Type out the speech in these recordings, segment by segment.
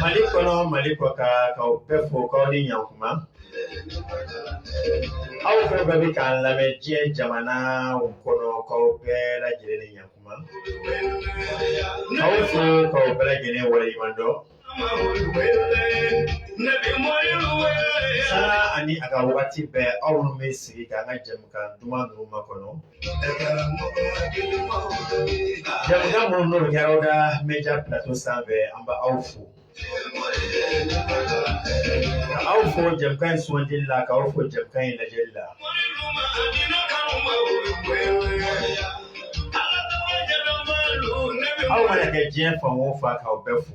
Mali kɔnɔ mali kɔkan k'aw bɛɛ fo k'aw ni ɲkuma aw fɛn bɛɛ bɛ k'an lamɛn diɲɛ jamanaw kɔnɔ k'aw bɛɛ lajɛlen ni ɲkuma k'aw fo k'aw bɛɛ lajɛlen waleɲuman dɔn sara ani a ka waati bɛɛ aw bɛ sigi ka an ka jamukan duman ninnu makɔnɔ Jamukan minnu n'o kɛra da media plateau sanfɛ an bɛ aw fo ka aw fo jamukan in sugandili la ka aw fo jamukan in lajɛli la aw mana kɛ diɲɛ fan o fan k'aw bɛɛ fo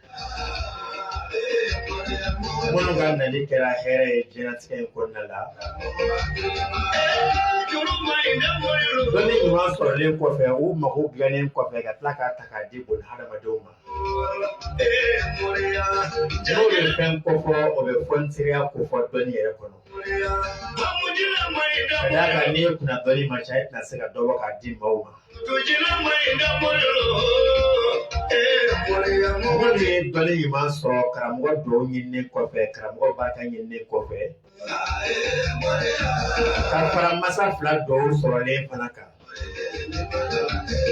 Minnu ka nali kɛra hɛrɛ ye diɲɛnatigɛ in kɔnɔna la dɔnni ɲuman sɔrɔlen kɔfɛ u mago dilannen kɔfɛ ka tila k'a ta k'a di boni hadamadenw ma n'o bɛ fɛn kofɔ o bɛ fɔnisireya kofɔ dɔnni yɛrɛ kɔnɔ Sadaka n'i kun na dɔnni ma caya i tɛna se ka dɔ bɔ k'a di maaw. To jina mai da murlo. Mɔgɔ min ye dɔnni ɲuman sɔrɔ karamɔgɔ dugaw ɲininen kɔfɛ karamɔgɔ barika ɲininen kɔfɛ ka fara masa fila dugaw sɔrɔlen fana kan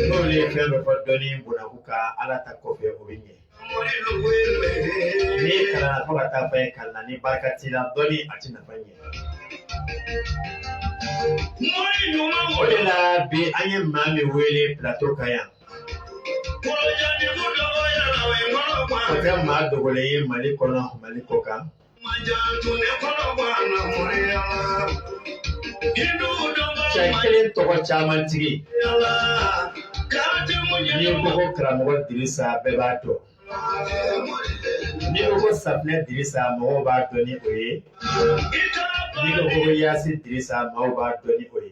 n'olu ye fɛn dɔ fɔ dɔnni bonaku ka ala ta kɔfɛ o bɛ ɲɛ N'i kalanna fo ka taa fɛn kalan na ni barika t'i la dɔnni a t'i nafa ɲɛ. O de la bi an ye maa min wele plateau kan yan. O tɛ maa dogolen ye Mali kɔnɔ Mali kɔ kan. Cɛ kelen tɔgɔ caman tigi n'i ko ko karamɔgɔ Dirisa bɛɛ b'a dɔn n'i ko ko safunɛ Dirisa mɔgɔw b'a dɔn ni o ye n'i ko ko Yasi Dirisa mɔgɔw b'a dɔn ni o ye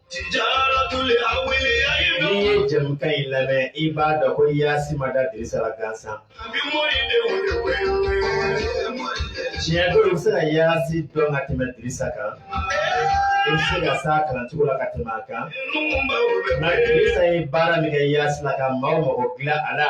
Tijaratul awliya N'i ye jɛmukan in lamɛn i b'a dɔn ko Yaasi ma da Dirisa la gansan. Abi mori de wele wele mori de. Tiɲɛ don i bɛ se ka Yaasi dɔn ka tɛmɛ Dirisa kan. I bɛ se ka s'a kalancogo la ka tɛmɛ a kan. Nka Dirisa ye baara min kɛ Yaasi la ka maaw mago dilan a la.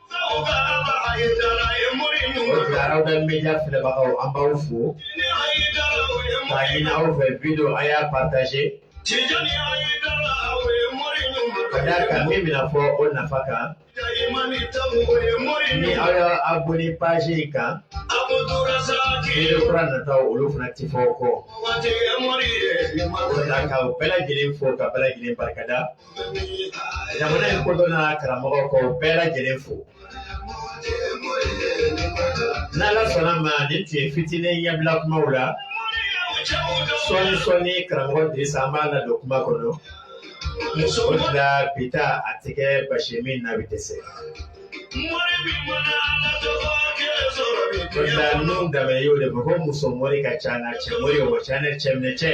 Tradal media filɛbagaw an b'aw fo k'a ɲini aw fɛ video a y'a partager ka d'a kan min bɛna fɔ o nafa kan ni aw y'a abonné page in kan video kura nataw olu fana tɛ fɔ aw kɔ o la k'aw bɛɛ lajɛlen fo k'aw bɛɛ lajɛlen barikada. jamana in kodɔn na karamɔgɔ k'o bɛɛ lajɛlen fo n'ala sɔnna a ma nin tun ye fitinin ɲɛbila kumaw la sɔɔni sɔɔni karamɔgɔ dirisa an b'a ladon kuma kɔnɔ o de la bi ta a tɛ kɛ basi ye min na bi dɛsɛ o de la ninnu dama ye o de fɔ ko muso mɔri ka ca ni cɛ mɔri ye ka ca n'a cɛ minɛ cɛ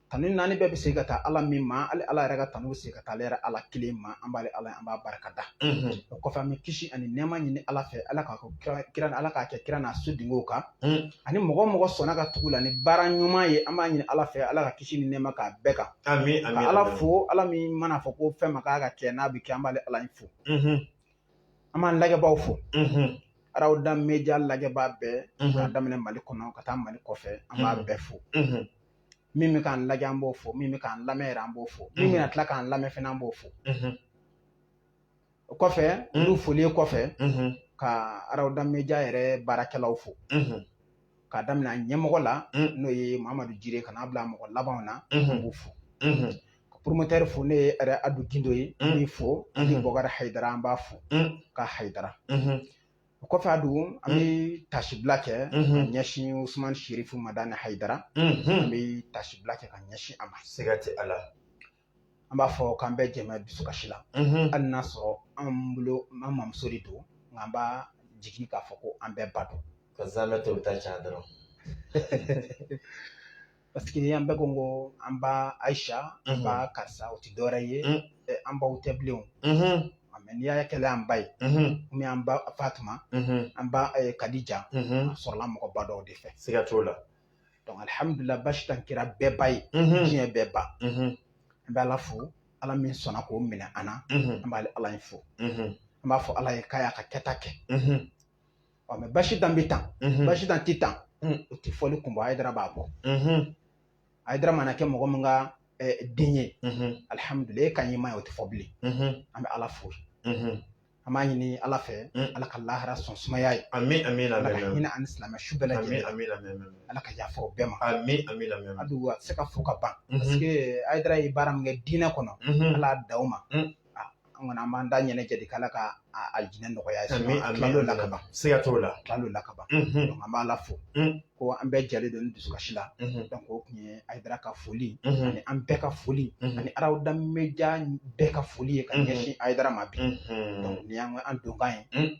Tanu naani bɛɛ bɛ se ka taa Ala min ma, hali Ala yɛrɛ ka tanu bɛ se ka taa ale yɛrɛ Ala kelen ma, an b'ale Ala ye an b'a barika da, o kɔfɛ an bɛ kisi ani nɛɛma ɲini Ala fɛ Ala k'a kira Ala k'a kɛ kira n'a su dingew kan, ani mɔgɔ o mɔgɔ sɔnna ka tugu u la ni baara ɲuman ye an b'a ɲini Ala fɛ Ala ka kisi ni nɛɛma k'a bɛɛ kan, amin amin, ka Ala fo Ala min mana fɔ ko fɛn ma k'a ka kɛ n'a bɛ kɛ an b'ale Ala in fo, an b'an lajɛbaaw fo, Arawuda media lajɛbaa bɛɛ k'a daminɛ Mali kɔnɔ ka taa Mali kɔfɛ an b'a bɛɛ fo. min bɛ k'an lajɛ an b'o fo min bɛ k'an lamɛn yɛrɛ an b'o fo min mhm. bɛna tila k'an lamɛn fana an b'o fo mhm. o kɔfɛ mhm. olu foli kɔfɛ ka arawuda media yɛrɛ baarakɛlaw fo k'a daminɛ ɲɛmɔgɔ la n'o ye mamadu jire ka n'a bila mɔgɔ labanw na an b'u fo poromotɛri fo ne ye yɛrɛ adu gindo ye n b'i fo ani bɔkari hayidara an b'a fo ka hayidara o kɔfɛ adu an bɛ tasibila kɛ ka ɲɛsin Usumani Sirifu Madani Hayidara an bɛ tasibila kɛ ka ɲɛsin a ma siga tɛ a la an b'a fɔ k'an bɛɛ jɛ bɛ dusukasi la hali n'a sɔrɔ an bolo an mamuso de don nka an b'a jigin k'a fɔ ko an bɛɛ ba don ka zamɛ ta u bɛ taa ca dɔrɔn Paseke an bɛɛ ko ko an ba ayisa an ba karisa o tɛ dɔwɛrɛ ye an baw tɛ bilen mɛ n'i y'a kɛlɛ an ba ye ani an ba fatuma an ba kadija a sɔrɔla mɔgɔba dɔw de fɛ siga t'a la dɔnki alihamudulilayi basi tɛ kira bɛɛ ba ye diɲɛ bɛɛ ba an bɛ ala fo ala min sɔnna k'o minɛ an na an b'ale ala in fo an b'a fɔ ala ye k'a y'a ka kɛta kɛ ɔ mɛ basi dan bɛ tan basi dan tɛ tan o tɛ fɔli kun bɔ ayidara ba ko ayidara mana kɛ mɔgɔ min ka den ye alihamudulilayi e ka ɲɛma ye o tɛ fɔ bilen an bɛ ala fo an b'a ɲini ala fɛ ala ka lahara so sumaya a ye ami ami ala ka hinɛ a ni silamɛ su bɛɛ lajɛlen ala ka yafa o bɛɛ ma ami ami a tɛ se ka fo ka ban parce que ayidara ye baara min kɛ diinɛ kɔnɔ ala da o ma an kɔni an b'an da ɲɛnajɛ de k'ala ka alijinɛ nɔgɔya a ye tuma la ka ban siga t'o la tuma la ka ban an b'ala fo ko an bɛɛ jɛlen don ni dusukasi la o tun ye ayidara ka foli ani an bɛɛ ka foli ani arawuda media bɛɛ ka foli ye ka ɲɛsin ayidara ma bi nin y'an donkan ye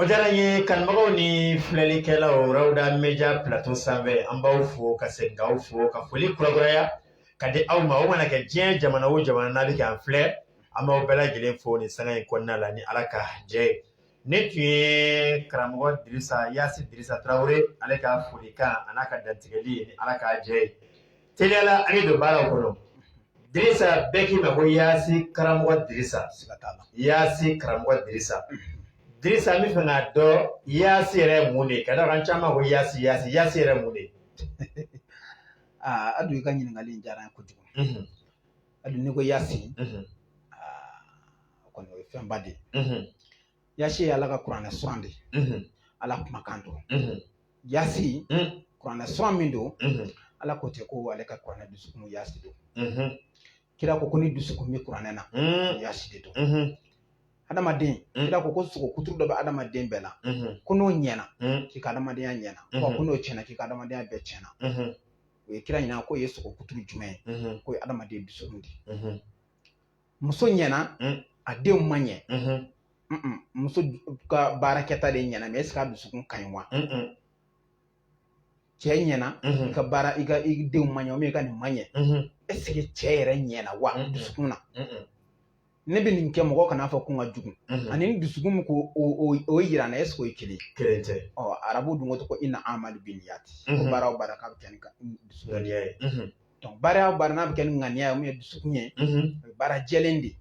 O diyara ye kanubagaw ni filɛlikɛlaw Rawda média plateau sanfɛ an b'aw fo ka segin k'aw fo ka foli kurakuraya ka di aw ma aw mana kɛ diɲɛ jamana o jamana n'aw bɛ ka an filɛ an b'aw bɛɛ lajɛlen fo nin sanga in kɔnɔna la ni ala ka jɛ ye nin tun ye karamɔgɔ Dirisa yasi Dirisa tarawele ale ka folikan ani a ka dantigɛli ni ala ka jɛ ye teliya la an ye don baara kɔnɔ Dirisa bɛɛ k'i ma ko Yaasi karamɔgɔ Dirisa Yaasi karamɔgɔ Dirisa Dirisa n b'a fɛ k'a dɔn Yaasi yɛrɛ ye mun de ye ka d'a kan caman ko Yaasi Yaasi Yaasi yɛrɛ ye mun de ye aa Adu i ka ɲininkali in diyara n ye kojugu Adu n'i ko Yaasi o kɔni o ye fɛnba de ye yasi ye ala ka kuranɛ suran de ye ala kumakan don yasi kuranɛ suran min don ala ko ten ko ale ka kuranɛ dusukun yasi don kira ko ko ni dusukun bɛ kuranɛ na yasi de don adamaden kira ko ko sogo kuturu dɔ bɛ adamaden bɛɛ la ko n'o ɲɛna k'i ka adamadenya ɲɛna ko n'o tiɲɛna k'i ka adamadenya bɛɛ tiɲɛna u ye kira ɲininka k'o ye sogo kuturu jumɛn ye k'o ye adamaden dusukun de ye muso ɲɛna mm. a denw ma ɲɛ mm-hmm. muso ka baarakɛta de ɲɛna mɛ est ce que a dusukun ka ɲi wa cɛ ɲɛna mm-hmm. i ka baara i ka i denw ma ɲɛ i ka nin ma ɲɛ mm-hmm. est ce que cɛ yɛrɛ ɲɛna wa dusukun na ne bɛ nin kɛ mɔgɔ kana fɔ ko n ka jugu ani ni dusukun min ko o yira na est ce que o ye kelen kelen tɛ ɔ arabu dun ko ko inna amalu biniyati ko baara o baara k'a bɛ kɛ ni ŋaniya ye donc baara o baara n'a bɛ kɛ ni ŋaniya ye min ye dusukun ye o ye baara jɛlen de ye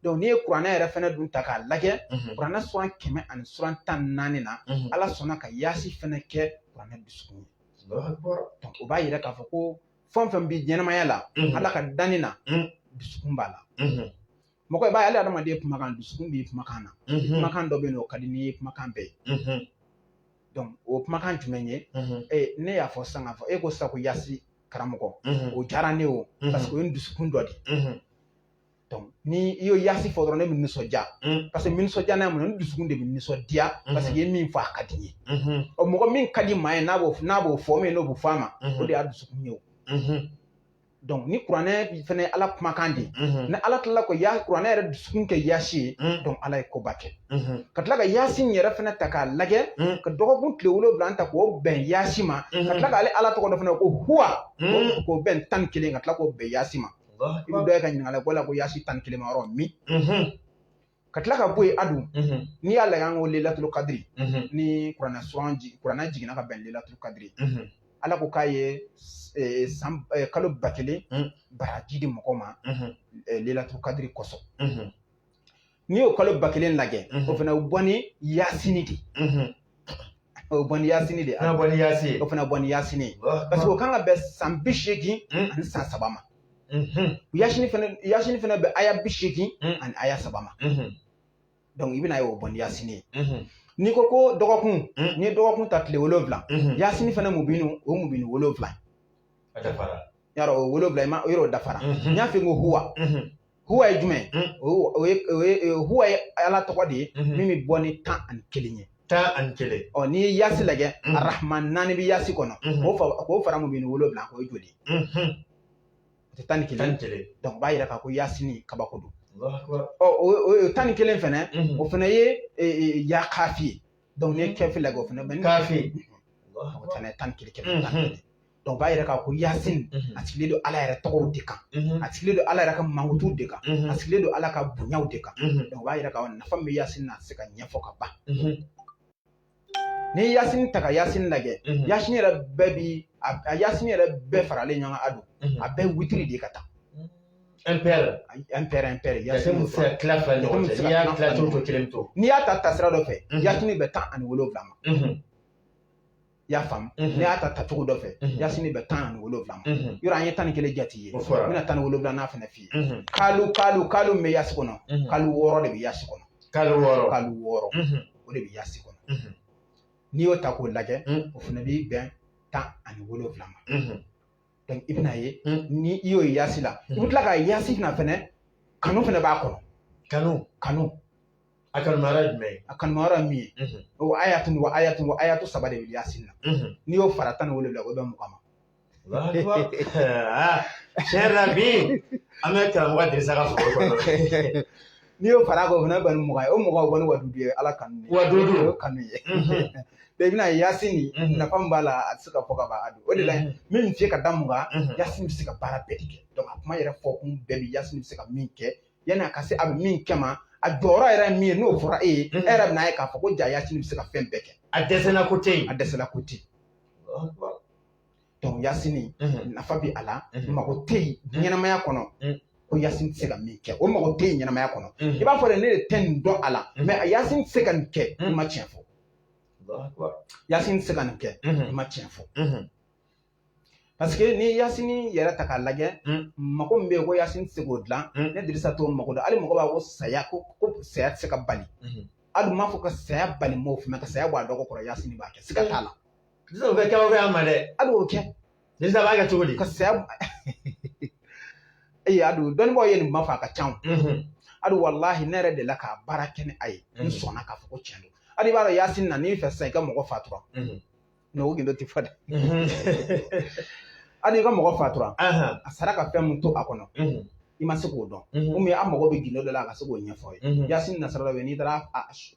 donc n'i ye kuranɛ yɛrɛ fana dun ta k'a lajɛ kuranɛ suran kɛmɛ ani suran tan ni naani na Ala sɔnna ka yaasi fana kɛ kuranɛ dusukun ye donc o b'a yira k'a fɔ ko fɛn o fɛn bɛ ɲɛnamaya la Ala ka danni na dusukun b'a la mɔgɔ i b'a ye hali adamaden kumakan dusukun b'i kumakan na kumakan dɔ bɛ yen n'o ka di n'i kumakan bɛɛ ye o kumakan jumɛn ye ne y'a fɔ sisan k'a fɔ e ko sisan ko yasi karamɔgɔ o diyara ne o parce que o ye dusukun dɔ de ye ni i y'o yasi fɔ dɔrɔn ne bɛ nisɔndiya parce que nisɔndiya n'a mun dusukun de bɛ nisɔndiya parce que i ye min fɔ a ka di n ye ɔ mɔgɔ min ka di maa ye n'a b'o n'a b'o fɔ min n'o bɛ fɔ a ma o de y'a dusukun ye o donc ni kuranɛ fana ala kumakan de ye mhm. ni ala tilala ka kuranɛ yɛrɛ dusukun kɛ yaasi ye mhm. donc ala ye koba kɛ mhm. ka tila ka yaasi in yɛrɛ fana ta k'a lajɛ ka dɔgɔkun tile wolonwula in ta k'o bɛn yaasi ma ka tila k'ale ala tɔgɔ dɔ fana ko huwa k'o bɛn tan ni kelen ka tila k'o bɛn yaasi ma i bɛ dɔ ye ka ɲininkali k'o la ko yaasi tan ni kelen ma yɔrɔ min ka tila ka bɔ yen adu n'i y'a lajɛ an ko lelatulu kadiri ni kuranɛ suran kuranɛ jiginna ka bɛn lelatulu kadiri ala ko k'a ye e, san e, kalo ba kelen baraji di mɔgɔ ma e, lelatulu kadiri kosɔn n'i y'o kalo ba kelen lajɛ o fana o bɔ ni yasini de o bɛ bɔ ni yasini de ye fana bɔ ni yasi o fana bɔ ni yasini ye parce que o kan ka bɛn san bi seegin ani san saba ma yasini fana yasini fana bɛ aya bi seegin ani aya saba ma donc i bɛna ye o bɔ ni yasini ye n'i ko ko dɔgɔkun n'i ye dɔgɔkun ta tile wolonwula yasini fana mubinu o mubinu wolonwula a dafara yɔrɔ o wolonwula i ma yɔrɔ dafara n y'a f'i ye ko huwa huwa ye jumɛn hmm. o ye o ye huwa ye ala tɔgɔ de ye hmm. min bɛ bɔ ni tan ani kelen ye tan ani kelen ɔ n'i ye yaasi lajɛ hmm. arahman naani bɛ yaasi kɔnɔ k'o fara mubini wolonwula kan o ye joli ye o tɛ tan ni kelen dɔnku o b'a yira k'a ko yaasini kabako don ɔ o tan ni kelen fana o fana ye e, e, ya kaafi ye dɔnku n'i ye kaafi lajɛ o fana bɛ ni kaafi o fana ye tan ni kelen kɛmɛ tan ni kelen dɔnku b'a yira k'a ko yasin a sigilen don ala yɛrɛ tɔgɔw de kan a sigilen don ala yɛrɛ ka mankutu de kan a sigilen don ala ka bonyaw de kan dɔnku b'a yira ko nafa bɛ yasin na se ka ɲɛfɔ ka ban n'i ye yasin ta ka yasin lajɛ yasin yɛrɛ bɛɛ bi a yasin yɛrɛ bɛɛ faralen ɲɔgɔn a don a bɛɛ witiri de ka taa impair impair impair yasin tɛ se ka tila fila ɲɔgɔn cɛ n'i y'a tila cogo o cogo kelen to n'i y'a ta tasira dɔ fɛ yasin bɛn tan ani wolonwula ma i y'a faamu n'i y'a ta tacogo dɔ fɛ yasini bɛn tan ani wolonwula ma yɔrɔ an ye tan ni kelen jate ye n bɛna tan ni wolonwula n'a fana f'i ye kalu kalu kalu min bɛ yasi kɔnɔ kalu wɔɔrɔ de bɛ yasi kɔnɔ kalu wɔɔrɔ kalu wɔɔrɔ o de bɛ yasi kɔnɔ n'i y'o ta k'o lajɛ o fana bɛ bɛn tan ani wolonwula ma donc i bɛna ye ni i y'o ye yasi la i bɛ tila ka yasi fana fɛnɛ kanu fana b'a kɔnɔ kanu kanu a kanumara ye jumɛn ye a kanumara ye min ye o ko ayatun ko ayatun ko ayatun saba de bɛ yasin na n'i y'o fara tan ni wolonwula o bɛn mugan ma tiɲɛ yɛrɛ la bi an bɛ karamɔgɔ dirisa ka foro kɔnɔ n'i y'o fara kan o fana bɔ ni mugan ye o mugan o kɔni waduudu ye ala kanu ye waduudu o kanu ye i bɛna yasin nin nafa min b'a la a tɛ se ka fɔ ka ban a don o de la min bɛ se ka da mugan yasin bɛ se ka baara bɛɛ de kɛ a kuma yɛrɛ fɔ kun bɛɛ bɛ yasin bɛ se ka min kɛ yani a ka se a bɛ min kɛ ma a jɔyɔrɔ yɛrɛ ye min ye n'o fɔra e ye e yɛrɛ bɛna ye k'a fɔ ko ja yasini bɛ se ka fɛn bɛɛ kɛ a dɛsɛla ko tɛ yen a dɛsɛla ko tɛ yen yasini nafa bɛ a la mago tɛ yen ɲɛnamaya kɔnɔ ko yasini tɛ se ka min kɛ o mago tɛ yen ɲɛnamaya kɔnɔ i b'a fɔ de ne de tɛ nin dɔn a la mais yasini tɛ se ka nin kɛ i ma tiɲɛ fɔ yasini tɛ se ka nin kɛ i ma tiɲɛ fɔ Paseke ni yasini yɛrɛ ta k'a lajɛ mako bɛ yen ko yasini tɛ se k'o dilan ne Dirisa t'o mako dɔn hali mɔgɔ b'a ko saya ko ko saya tɛ se ka bali Alu n m'a fɔ ka saya bali n m'a fɔ ka saya b'a dɔgɔ kɔrɔ yasini b'a kɛ se ka t'a la kɛ kɛya ma dɛ Alu y'o kɛ ni b'a kɛ cogo di ka saya ee Alu dɔnniba ye nin ma fɔ a ka ca Alu walahi ne yɛrɛ dela ka baara kɛ ni a ye n sɔnna k'a fɔ ko cɛn don Alu i b'a dɔn yasini na n'i fɛ sa i ka mɔgɔ fatura n'o gindo tɛ fɔ dɛ Alu i ka mɔgɔ fatura a sara ka fɛn mun to a kɔnɔ i ma se k'o dɔn komi an mago bɛ gindo dɔ la a ka se k'o ɲɛfɔ i ye yasini nasara dɔ bɛ n'i taara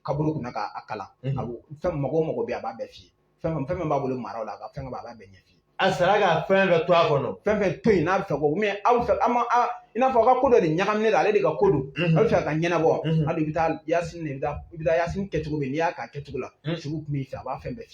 kaburu kunna k'a kalan a fɛn mɔgɔ mɔgɔ bɛ a b'a bɛɛ f'i ye fɛn fɛn min b'a bolo mara la a ka fɛn b'a b'a bɛɛ ɲɛf'i ye a sara ka fɛn bɛɛ to a kɔnɔ fɛn fɛn to yen n'a bɛ fɛ ko mɛ aw fɛ an ma i n'a fɔ aw ka ko dɔ de ɲagaminen don ale de ka ko don aw bɛ fɛ ka ɲɛnabɔ hali i bɛ taa yasini de bɛ taa i bɛ taa yasini kɛcogo min n'i y'a k'a kɛcogo la sugu tun b'i fɛ a b'a fɛn bɛɛ f'i ye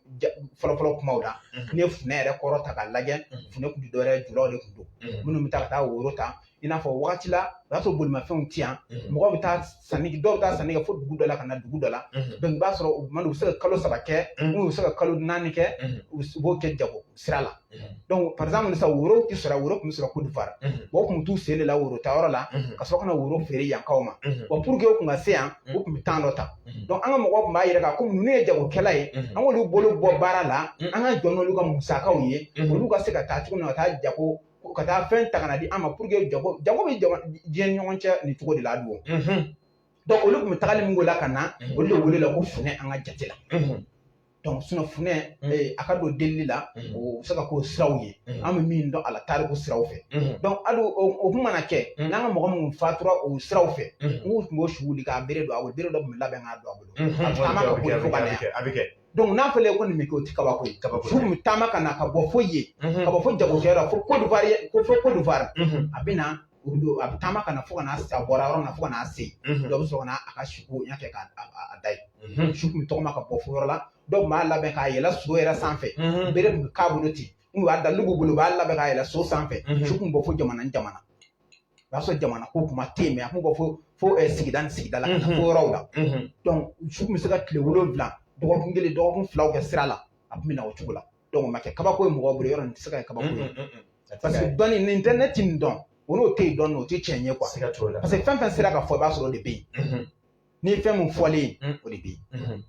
fɔlɔfɔlɔ kumaw la n'i ye funɛ yɛrɛ kɔrɔ ta k'a lajɛ funɛ tun tɛ dɔwɛrɛ ye julaw de tun don minnu bɛ taa ka taa woro ta i n'a fɔ wagati la o y'a sɔrɔ bolimafɛnw ti yan mɔgɔ bɛ taa sanni dɔw bɛ taa sanni kɛ fo dugu dɔ la ka na dugu dɔ la i b'a sɔrɔ u bɛ se ka kalo saba kɛ n'u bɛ se ka kalo naani kɛ u b'o kɛ jago sira la donc par exemple sisan woro tɛ sɔrɔ woro tun bɛ sɔrɔ Côte d'Ivoire bon u tun bɛ t'u sen de la woro ta yɔrɔ la ka sɔrɔ ka na woro feere yankaw ma bon pour que u tun ka se yan u tun bɛ temps dɔ ta donc an ka mɔgɔw tun b'a yɛrɛ kan komi ninnu ye jagokɛla ye an k'olu bolo bɔ baara la an ka jɔ n'olu ka musakaw ye olu ka se ka taa cogo min na ka taa jago ka taa fɛn ta ka na di an ma pour que jago jago bɛ jama diɲɛ ni ɲɔgɔn cɛ nin cogo de la don donc olu tun bɛ tagali min k'o la ka na olu de welela ko funɛ an ka jate la funɛ a ka don delili la o bɛ se ka k'o siraw ye an bɛ min dɔn a la tariku siraw fɛ Alu o kun mana kɛ n'an ka mɔgɔ minnu fatura o siraw fɛ n'u tun b'o su wuli ka bere don a bolo bere dɔ tun bɛ labɛn k'a don a bolo a taama ka boli fo ka na yan n'a fɔra ko nin bɛ kɛ o tɛ kabako ye kabako fo taama ka na ka bɔ fo yen ka bɔ fo jagokɛyɔrɔ fo Kodowari fo Kodowari a bɛ na olu bɛ a bɛ taama ka na fo ka n'a se a bɔra yɔrɔ min na fo ka n'a se yen dɔ bɛ sɔrɔ ka na a ka suko ɲɛ fɛ k'a a da yen su kun bɛ tɔgɔma ka bɔ fo yɔrɔ la dɔw tun b'a labɛn k'a yɛlɛ so yɛrɛ sanfɛ bere tun bɛ k'a bolo ten n'u y'a da n'u b'u bolo u b'a labɛn k'a yɛlɛ so sanfɛ su kun bɛ bɔ fo jamana ni jamana o y'a sɔrɔ jamana ko kuma tɛ yen mɛ a kun bɛ bɔ fo fo eh, sigida ni sigida la ka taa fo yɔrɔw la su kun bɛ se ka tile wolonwula dɔgɔkun kelen dɔgɔkun filaw kɛ sira la a tun bɛ na o cogo la dɔnku ma kɛ kabako ye mɔgɔ bolo yɔrɔ nin tɛ se ka kɛ kabako ye parce que dɔnni nin tɛ ne ti nin dɔn o n'o tɛ yen dɔnni o tɛ tiɲɛ ye kuwa parce que fɛn fɛn sera ka fɔ i b'a sɔrɔ o de bɛ yen ni fɛn min fɔlen o de bɛ yen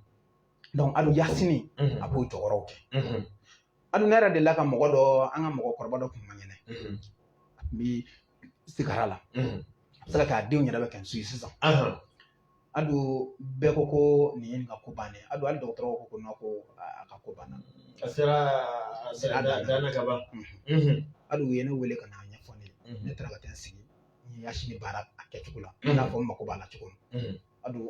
dɔnku Alu yasini a b'o jɔyɔrɔw kɛ Alu ne yɛrɛ dela ka mɔgɔ dɔ an ka mɔgɔkɔrɔba dɔ kun man kɛnɛ a tun bɛ sigara la a bɛ se ka kɛ a denw yɛrɛ bɛ kɛ n su ye sisan a don bɛɛ ko ko nin ye nin ka ko bannen ye a don hali dɔgɔtɔrɔw ko ko na ko a ka ko banna a sera a sera a dan na ka ban a don u ye ne wele ka na ɲɛfɔ ne ye ne taara ka taa n sigi n ye yasini baara a kɛcogo la i n'a fɔ n mako b'a la cogo min a don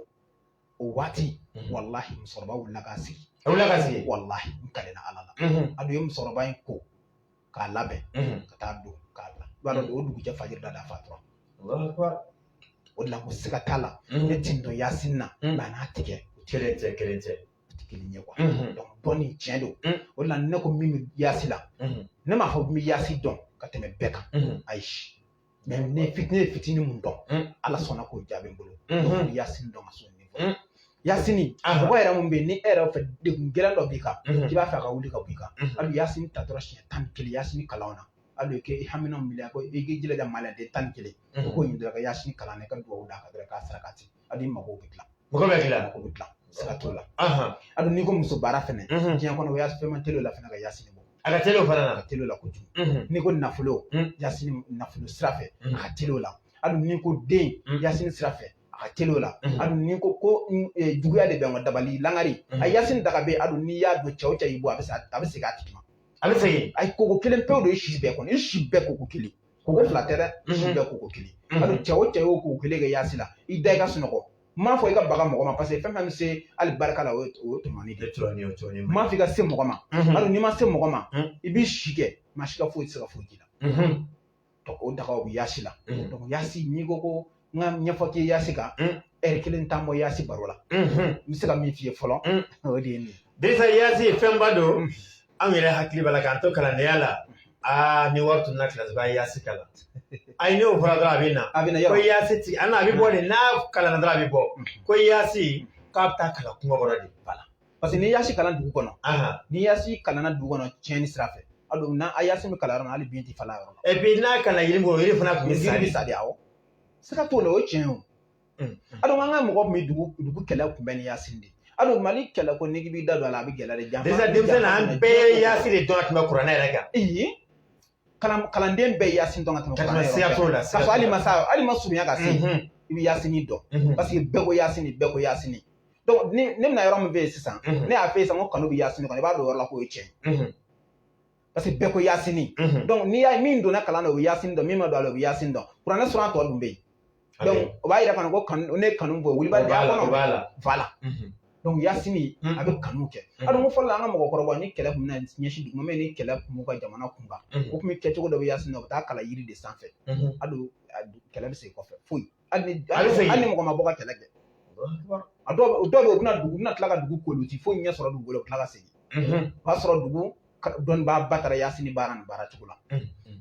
o waati walahi musokɔrɔba wulila k'a sigi a wulila k'a sigi walahi n kalila ala la a don u ye musokɔrɔba in ko k'a labɛn ka taa don k'a bila i b'a dɔn o dugujɛ fajiri da d'a fatura o de la ko siga t'a la ne tin dɔn yasin na nka n'a tigɛ kelen tɛ kelen tɛ kelen ye kuwa dɔn ni tiɲɛ don o de la ne ko min bɛ yaasi la ne m'a fɔ n bɛ yaasi dɔn ka tɛmɛ bɛɛ kan ayi mais ne fitinin fitini min dɔn mm. ala sɔnna k'o jaabi n bolo mm-hmm. yasini dɔn ka sɔn mm. yasini mɔgɔ yɛrɛ min bɛ yen ni e yɛrɛ fɛ degun gɛlɛn dɔ b'i kan mm-hmm. k'i b'a fɛ a ka wuli ka bɔ i kan mm-hmm. hali yasini ta dɔrɔn siɲɛ tan ni kelen yasini kalan na hali kɛ i hamina miliya ko i k'i jilaja maliyaden tan ni kelen o ko ɲindira ka yasini kalan na i ka dugawu d'a kan dɔrɔn k'a saraka ten a dun mago bɛ dilan mago bɛ dilan mago bɛ dilan siga t'o la a dun n'i ko muso baara fɛnɛ diɲɛ kɔnɔ o y'a fɛn man teli o la fana ka yasini bɔ a ka teli o fana na a ka teli o la kojugu n'i ko nafolo yasini nafolo sira fɛ a ka teli o la a dun n'i ko den yasini sira fɛ a ka teli o la a dun n'i ko ko juguya de bɛ an ka dabali langari a yasini daga bɛ a dun n'i y'a don cɛ o cɛ y'i bon a bɛ segin a tigi ma a bɛ segin a ye koko kelen pe de ye i si bɛɛ kɔnɔ i si bɛɛ koko kelen koko fila tɛ dɛ si bɛɛ koko kelen hali cɛ o cɛ y'o koko kelen kɛ yaasi la i da i ka sunɔgɔ m'a fɔ i ka baga mɔgɔ ma parce que fɛn fɛn bɛ se alibarika la o ye o ye tɔɲɔni de ye m'a fɔ i ka se mɔgɔ ma hali n'i ma se mɔgɔ ma i b'i si kɛ maa si ka foyi tɛ se ka foyi k'i la o dagaw bɛ yaasi la yaasi n'i ko ko n k'a ɲɛfɔ k'i yaasi kan ɛri kelen t'an bɔ yaasi baro la n bɛ se ka min f'i ye fɔlɔ o de ye nin ye dirisa yaasi fɛnba don anw yɛrɛ hakili b'a la k'an to kalandenya la aa ni wari tunna kilasi b'a yaasi kalan ayi n'o fɔra dɔrɔn a bɛ na a bɛ na ko yɔrɔ yaasi ti a na a bɛ bɔ de n'a kalanna dɔrɔn a bɛ bɔ ko yaasi k'a bɛ taa kalan kungo kɔrɔ de bala Paseke n'i yasi kalan dugu kɔnɔ ni yasi kalanna dugu kɔnɔ tiɲɛni sira fɛ a don n'a a yasi bɛ kalan yɔrɔ min na hali bin tɛ falen a yɔrɔ la. Epi n'a kalanna yiri kɔrɔ yiri fana tun bɛ sa de. sa de awɔ. Siga t'o la o ye tiɲɛ ye o. A don an ka mɔgɔ tun bɛ dugu dugu kɛlɛ kunbɛn ni yasi de ye. A don Mali kɛlɛ ko n'i b'i da don a la a bɛ gɛlɛya de janfa. Desa denmisɛnnin an bɛɛ ye yasi de dɔn ka tɛmɛ kuranɛ yɛrɛ kan. kalanden bɛɛ yasin dɔn ka tɛmɛ kuranɛ yɛrɛ siga t'o la k'a sɔrɔ hali i ma se hali i ma surunya ka se i bɛ yasini dɔn parce que bɛɛ ko yasini bɛɛ ko yasini donc ni ne bɛna yɔrɔ min f'i ye sisan ne y'a f'i ye sisan ko kanu bɛ yasini kɔnɔ i b'a dɔn yɔrɔ la k'o ye tiɲɛ parce que bɛɛ ko yasini donc n'i y'a ye min donna kalan na o bɛ yasini dɔn min ma don a la o bɛ yasini dɔn kuranɛ sura tɔ dun bɛ yen o b'a yira fana ko kanu ne kanu bɔ wuli b'a da kɔnɔ fa la donc yasini a bɛ kanu kɛ a dun fɔlɔ la an ka mɔgɔkɔrɔba ni kɛlɛ tun bɛ ɲɛsin dugu ma mɛ ni kɛlɛ tun b'u ka jamana kunkan o tun bɛ kɛcogo dɔ bɛ yasini na u bɛ taa a kalan yiri de sanfɛ a don kɛlɛ bɛ segin kɔfɛ foyi hali ni hali ni mɔgɔ ma bɔ ka kɛlɛ kɛ a dɔw bɛ yen u bɛna dugu bɛna tila ka dugu koori u ti foyi ɲɛ sɔrɔ dugukolo u bɛ tila ka segin o b'a sɔrɔ dugu dɔnnibaaba taara yasini baara n'a baara cogo la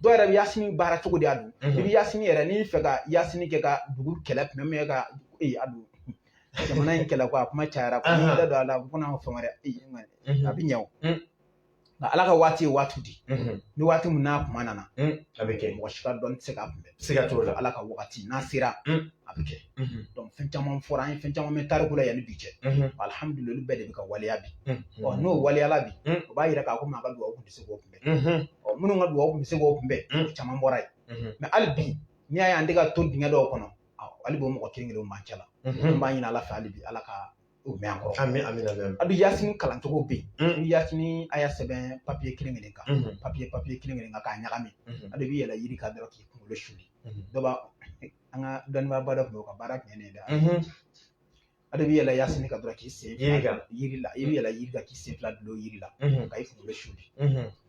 dɔw yɛrɛ bɛ yasini baara cogo de y'a don i bɛ yasini yɛrɛ n'i fɛ ka yasini kɛ ka dugu kɛlɛ kunbɛn min ka ee a don jamana in kɛlɛ ko a kuma cayara ko n'i yɛrɛ don a la ko n'an fɛn wɛrɛ ee a bɛ ɲɛ o nka ala ka waati ye waati di ni waati min n'a kuma nana a bɛ kɛ mɔgɔ si ka dɔnni tɛ se k'a kunbɛn Siga t'o la ala ka wagati n'a sera a bɛ kɛ donc fɛn caman fɔra an ye fɛn caman bɛ tariku la yanni bi cɛ alihamdulilahi o bɛɛ de bɛ ka waleya bi ɔ n'o waleyala bi o b'a jira k'a ko maa ka dugawu tun tɛ se k'o kunbɛn ɔ minnu ka dugawu tun bɛ se k'o kunbɛn u caman bɔra yen mɛ hali bi n'i y'a ye an tɛ ka don dingɛ dɔw kɔnɔ hali b'o mɔgɔ kelen kelen b'an cɛ la n b'a ɲini ala fɛ hali bi ala ka O mɛn an kɔrɔ. Ami ami ami. A bɛ yasini kalancogo bɛ yen. Mm. Ni yasini aya sɛbɛn papiye kelen kelen kan. Mm. Papiye papiye kelen kelen kan k'a ɲagami. Mm. A dɔ b'i yɛlɛ yiri kan dɔrɔn k'i kunkolo suli. Mm. Dɔ b'a an ka dɔnnibaaba dɔ tun bɛ yen o ka baara tun ye nin ye dɛ. Mm-hmm. A dɔ b'i yɛlɛ yasini kan dɔrɔn k'i sen fila yiri kan yiri la. I b'i yɛlɛ yiri kan k'i sen fila dulon yiri la. Mm-hmm. Ka i kunkolo suli. Mm-hmm.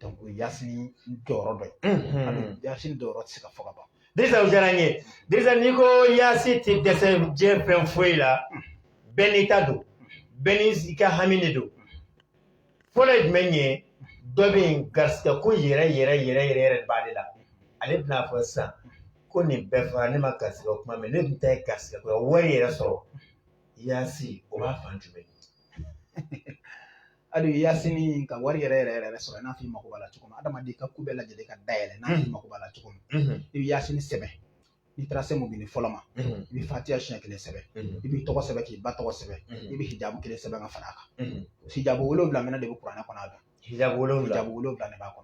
donc o ye yasini jɔyɔrɔ dɔ ye a bɛ yasini jɔyɔrɔ tɛ se ka fɔ ka ban Dirisa o diyara n ye Dirisa n'i ko yaasi tɛ dɛsɛ diɲɛ fɛn foyi la bɛɛ n'i ta don bɛɛ n'i ka hami de don fɔlɔ ye jumɛn ye dɔ bɛ yen garisigɛ ko yɛrɛ yɛrɛ yɛrɛ yɛrɛ yɛrɛ de b'ale la ale bɛna fɔ sisan ko nin bɛɛ fɔra ne ma garisigɛ kuma mɛn ne dun ta ye garisigɛ ko wari yɛrɛ sɔrɔ yaasi o b'a fan jumɛn hali yasini ka wari yɛrɛ yɛrɛ yɛrɛ sɔrɔ i n'a fɔ i mago b'a la cogo min adamaden ka ko bɛɛ lajɛlen ka dayɛlɛ n'a fɔ i mago b'a la cogo min i bɛ yasini sɛbɛn n'i taara se mubini fɔlɔ ma i bɛ fatiya siɲɛ kelen sɛbɛn i b'i tɔgɔ sɛbɛn k'i ba tɔgɔ sɛbɛn i bɛ hijabu kelen sɛbɛn k'a fara a kan hijabu wolonwula minnu de bɛ kuranɛ kɔnɔ a don hijabu wolonwula hijabu wolonwula de b'a kɔnɔ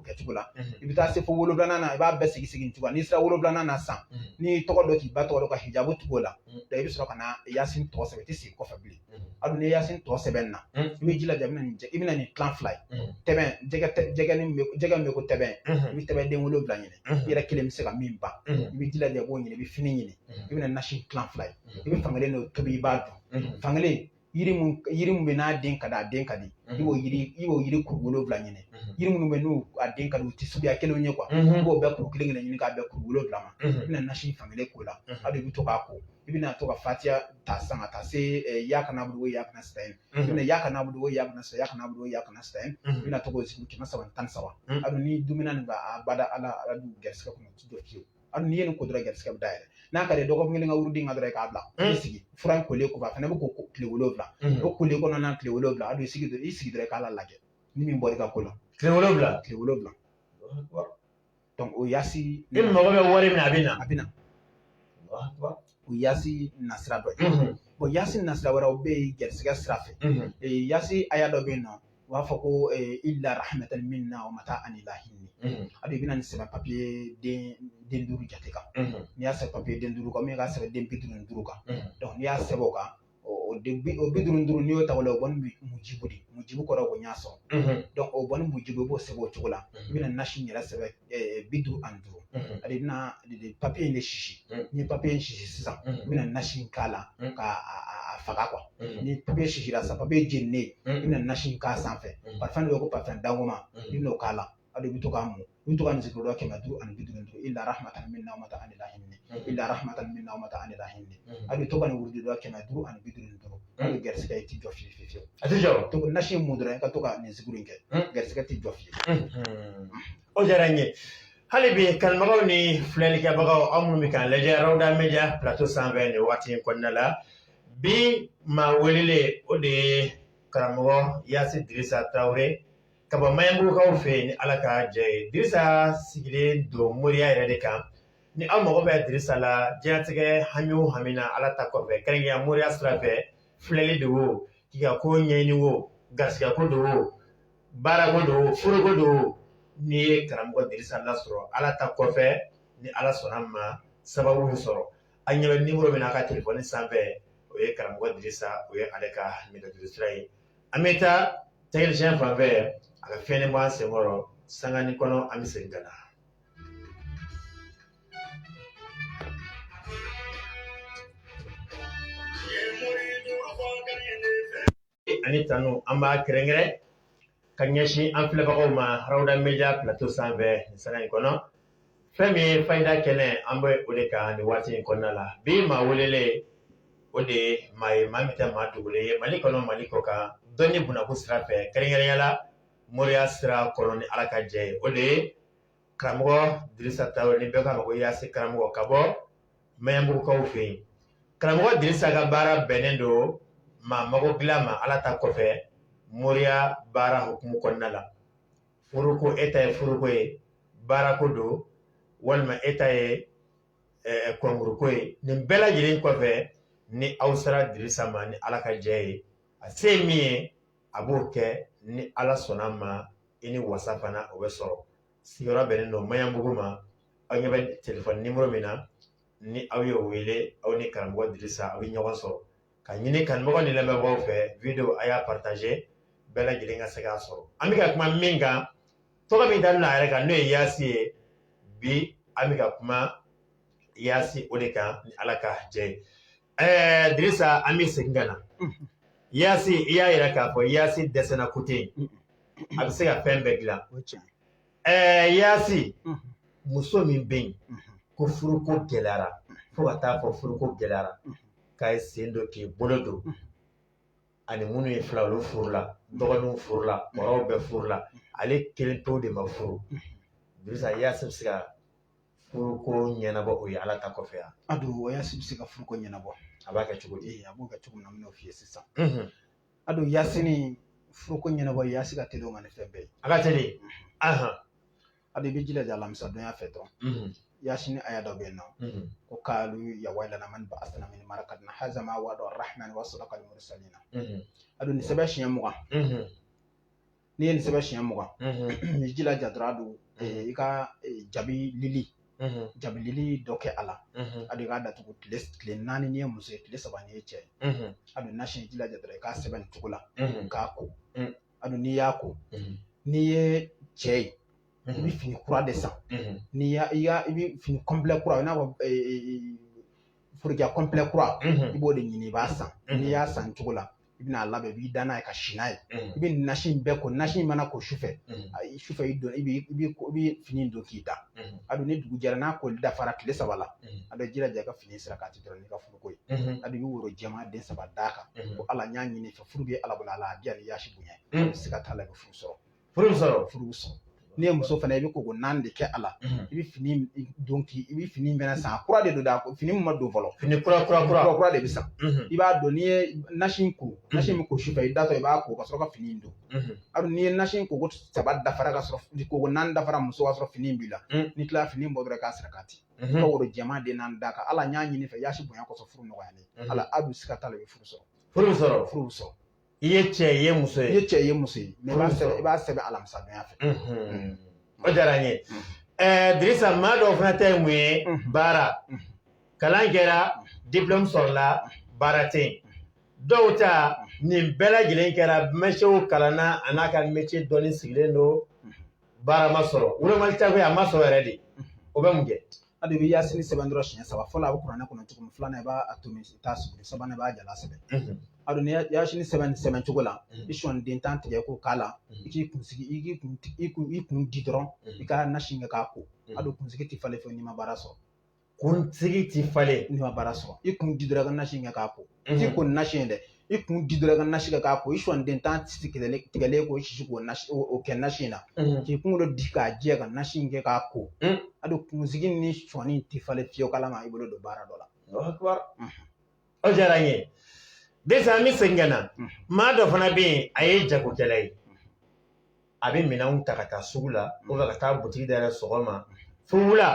o kɛcogo la i bɛ taa se fo wolonwula na i b'a bɛɛ sigi sigi cogo n'i sera wolonwula na sa n'i tɔgɔ dɔ k'i ba tɔgɔ ka hijabu tugu o la i bɛ sɔrɔ ka na yasin tɔ sɛbɛn i tɛ sigi kɔfɛ bilen hali ni yasin tɔ sɛbɛn na i b'i jilaja i bɛna nin i bɛna nin tilan fila ye tɛbɛn jɛgɛ jɛgɛ ni jɛgɛ min bɛ ko tɛbɛn i bɛ tɛbɛn den wolonwula ɲini i yɛrɛ kelen bɛ se ka min ban i b'i jilaja i b'o ɲini i bɛ fini ɲini i bɛna nasi tilan fila ye i bɛ fankelen dɔ tobi i b'a dun fankelen yiri mun yiri mun bɛ n'a den ka di a den ka di i b'o yiri i b'o yiri kuru wolonwula ɲini yiri minnu bɛ n'u a den ka di u tɛ suguya kelenw ye i b'o bɛɛ kuru kelen kelen ɲini k'a bɛn kuru wolonwula ma i bɛna nasi fan kelen k'o la a de bɛ to k'a ko i bɛna to ka fatiya ta sa ka taa se iyaka nabudu iyaka nasitayin i bɛna iyaka nabudu iyaka nasita iyaka nabudu iyaka nasitayin i bɛna to k'o sigi kɛmɛ saba ni tan ni saba a ni dumuni nin b'a bada ala ala dun garisigɛ kɔnɔ o tɛ jɔ fiyewu hali n'i ye nin ko dɔrɔn garisigɛ bɛ dayɛlɛ n'a ka di ye dɔgɔkun kelen ka wurudi in kɛ dɔrɔn i k'a bila i sigi fura in kolen kɔfɛ a fana bɛ ko tile wolonwula o kolen kɔnɔna tile wolonwula a don i sigi dɔrɔn i sigi dɔrɔn i k'a lajɛ ni min bɔra i ka ko la tile wolonwula tile wolonwula o yasi e mago bɛ wari min na a bɛ na a bɛ na o yasi nasira dɔ ye o yasi nasira wɛrɛw bɛ yen garisigɛ sira fɛ yasi aya dɔ bɛ yen nɔ u b'a fɔ ko illa rahmatan minna wa mataan ila hiini a bɛ bɛna nin sɛbɛ papiye den duuru jate kan n'i y'a sɛbɛn papiye den duuru kan min ka sɛbɛn den bi duuru ni duuru kan donc n'i y'a sɛbɛn o kan o bi duuru ni duuru n'i y'o ta o la o kɔni bi mujibu de mujibu kɔrɔ ko y'a sɔrɔ donc o kɔni mujibu i b'o sɛbɛn o cogo la i bɛna nasi yɛrɛ sɛbɛn bi duuru ani duuru a de bɛna papiye in de sisi n'i ye papiye in sisi sisan u bɛna nasi in k'a la ka a faga ni papiye sisira sisan papiye jeninen i bɛna nasi in k'a sanfɛ parfum parfum dɔgɔman i bɛn'o k'a la a de bɛ to k'a mun i bɛ to k'a zikiru dɔ kɛmɛ duuru ani bi duuru ni duuru illa rahmatan minna wa mataan ila hiini illa rahmatan minna wa mataan ila hiini a bɛ to ka nin wurudi dɔ kɛmɛ duuru ani bi duuru ni duuru hali garisigɛ i ti jɔ fewu fewu fewu a ti jɔ to nasi mun dɔrɔn i ka to ka nin zikiru in kɛ garisigɛ ti jɔ fewu o diyara n ye hali bi kanubagaw ni filɛlikɛbagaw aw minnu bɛ k'an lajɛ rawda media plateau sanfɛ nin waati in kɔnɔna la bi maa welelen o de ye karamɔgɔ yasi dirisa tarawele ka bɔ mayanbugukaw fɛ yen ni ala ka jɛ ye dirisa sigilen don moriya yɛrɛ de kan ni aw mago bɛ dirisa la diɲɛnatigɛ hami hamina na ala ta kɔfɛ kɛrɛnkɛrɛnya moriya sira fɛ filɛli don wo tiga ko ɲɛɲini wo garisigɛ ko don wo baarako don furuko don n'i ye karamɔgɔ dirisa lasɔrɔ ala ta kɔfɛ ni ala sɔnna ma sababu bɛ sɔrɔ a ɲɛ nimɔrɔ min a ka telefɔni sanfɛ o ye karamɔgɔ dirisa yɛrɛ ka nɛgɛjuru sira ye an bɛ taa technicien fanfɛ a ka fiyɛn bɔ an senkɔrɔ sanganin kɔnɔ an bɛ segin ka na Ani tanu an b'a kɛrɛnkɛrɛn ka ɲɛsin an filɛbagaw ma rawda media plateau sanfɛ nin sanga in kɔnɔ fɛn min ye fayida kɛnɛ an bɛ o de kan nin waati in kɔnɔna la bi maa welelen o de ye maa ye maa min tɛ maa dogolen ye mali kɔnɔ mali kɔkan dɔnni bɔnnako sira fɛ kɛrɛnkɛrɛnya la moriya sira kɔnɔ ni ala ka jɛ ye o de ye karamɔgɔ dirisa ta ni bɛɛ karamɔgɔ yasi karamɔgɔ ka bɔ mayanbugukaw fɛ yen karamɔgɔ dirisa ka baara bɛnnen don maa mago dilan ma ala ta kɔfɛ moriya baara hukumu kɔnɔna la furuko e ta ye furuko ye baarako don walima e ta ye kɔnkuruko ye nin bɛɛ lajɛlen kɔfɛ ni aw sera dirisa ma ni ala ka jɛ ye a se min ye a b'o kɛ ni ala sɔnna ma i ni wasa fana o bɛ sɔrɔ sigiyɔrɔ bɛnnen don maɲanbugu ma aw ɲɛ bɛ telefɔni nimoro min na ni aw y'o wele aw ni karamɔgɔ dirisa aw bɛ ɲɔgɔn sɔrɔ k'a ɲini kanumɔgɔ ni lamɛnbagaw fɛ video a y'a partaze bɛɛ lajɛlen ka se k'a sɔrɔ an bɛ ka kuma min kan tɔgɔ min dalen a yɛrɛ kan n'o ye yaasi ye bi an bɛ ka kuma yaasi o de kan ni ala ka jɛ ye ɛɛ dirisa an bɛ segin ka na yaasi i y'a yira k'a fɔ yaasi dɛsɛra ko tɛ yen a bɛ se ka fɛn bɛɛ dilan o tiɲɛ ɛɛ yaasi muso min bɛ yen ko furuko gɛlɛyara fo ka t'a fɔ furuko gɛlɛyara k'a y'i sen don k'i bolo don a ni minnu ye filan olu furula dɔgɔninw furula kɔrɔw bɛɛ furula ale kelen tɔ de ma furu dirisa yaasi bɛ se ka furuko ɲɛnabɔ o ye ala ta kɔfɛ yan a don o yasi bɛ se ka furuko ɲɛnabɔ a b'a kɛ cogo di a b'o kɛ cogo min na n'o f'i ye sisan a don yasini furuko ɲɛnabɔ yasi ka teli o ma ni fɛn bɛɛ ye a ka teli a don i b'i jilaja alamisa donya fɛ dɔrɔn yasini aya dɔ bɛ yen n'o ko kaalu ya wailana man ba'asana min marakadina haza ma wa'ada rahman wa sadakal mursalina a don nin sɛbɛn siɲɛ mugan n'i ye nin sɛbɛn siɲɛ mugan i jilaja dɔrɔn a don i ka jabi lili jabi lili dɔ kɛ a la a don i k'a datugu tile tile naani n'i ye muso ye tile saba n'i ye cɛ ye a don nasi i jilaja dɔrɔn i k'a sɛbɛn nin cogo la k'a ko a don n'i y'a ko n'i ye cɛ ye i bɛ fini kura de san n'i y'a i y'a i bɛ fini kɔnpilɛ kura i n'a fɔ forokiya kɔnpilɛ kura i b'o de ɲini i b'a san n'i y'a san cogo la i bɛn'a labɛn i b'i da n'a ye ka si n'a ye i bɛ nasi in bɛɛ ko nasi in mana ko sufɛ ayi sufɛ i don i b'i i b'i i b'i fini don k'i da a don ni dugu jɛra n'a koli dafara tile saba la a don i jilaja i ka fini sarakati dɔrɔn n'i ka furuko ye a don i bɛ woro jɛman den saba d'a kan ko ala n y'a ɲini i fɛ furu bɛ ala bolo ala a diya ni yasi bonya a don sika t'a la i bɛ furu sɔrɔ furu sɔrɔ furu sɔrɔ n'i ye muso fana i bɛ koko naani de kɛ a la mhm. i bɛ fini don k'i i bɛ fini mɛnɛ san kura de don da fini min ma don fɔlɔ fini kura kura kura kura de bɛ san mhm. i b'a dɔn n'i ye nasi in ko mhm. nasi min ko sufɛ i datɔ i b'a ko ka sɔrɔ ka fini in don hali n'i ye nasi in koko saba dafara ka sɔrɔ koko naani dafara muso ka sɔrɔ fini in b'i la n'i tilala fini bɔ dɔrɔn k'a sarakati i ka woro jɛman den naani d'a kan ala n y'a ɲini i fɛ yaasi bonya kɔsɔn furu nɔgɔyalen ala a don sika t'a la i bɛ furu sɔrɔ furu sɔrɔ furu sɔrɔ i ye cɛ ye muso ye i ye cɛ ye muso ye i b'a sɛbɛn i b'a sɛbɛn alamisadenya fɛ o diyara n ye ɛɛ dirisa maa dɔw fana ta ye mun ye baara kalan kɛra diplɔmu sɔrɔla baara tɛ yen dɔw ta nin bɛɛ lajɛlen kɛra metiyɛw kalanna a n'a ka metiyɛ dɔnni sigilen don baara ma sɔrɔ walima a tabaga ma sɔrɔ yɛrɛ de o bɛ mun kɛ a dun i bɛ yasini sɛbɛn dɔrɔn siɲɛ saba fɔlɔ a bɛ kuranɛ kɔnɔ cogo min filanan i b'a tomi t'a sigi sabanan i b'a jalan sɛbɛn a dun ni yasini sɛbɛn sɛbɛn cogo la i sɔnin den tan tigɛ k'o k'a la i k'i kunsigi i k'i kun i kun i kun di dɔrɔn i ka nasi kɛ k'a ko a dun kunsigi tɛ falen fewu n'i ma baara sɔrɔ kunsigi tɛ falen n'i ma baara sɔrɔ i kun di dɔrɔn i ka nasi kɛ k'a ko ti ko nasi ye dɛ i kun di dɔrɔn ka nasi kɛ k'a ko i sɔnin den tan ti tigɛlen tigɛlen k'o sisi k'o kɛ nasi in na k'i kunkolo di k'a jɛ ka nasi in kɛ k'a ko a don kunsigi ni sɔɔni ti falen fiyewu k'ala ma i bolo don baara dɔ la o diyara n ye dirisa an bɛ segin ka na maa dɔ fana bɛ yen a ye jagokɛla ye a bɛ minɛnw ta ka taa sugu la o ka taa butigi dayɛlɛ sɔgɔma fo wula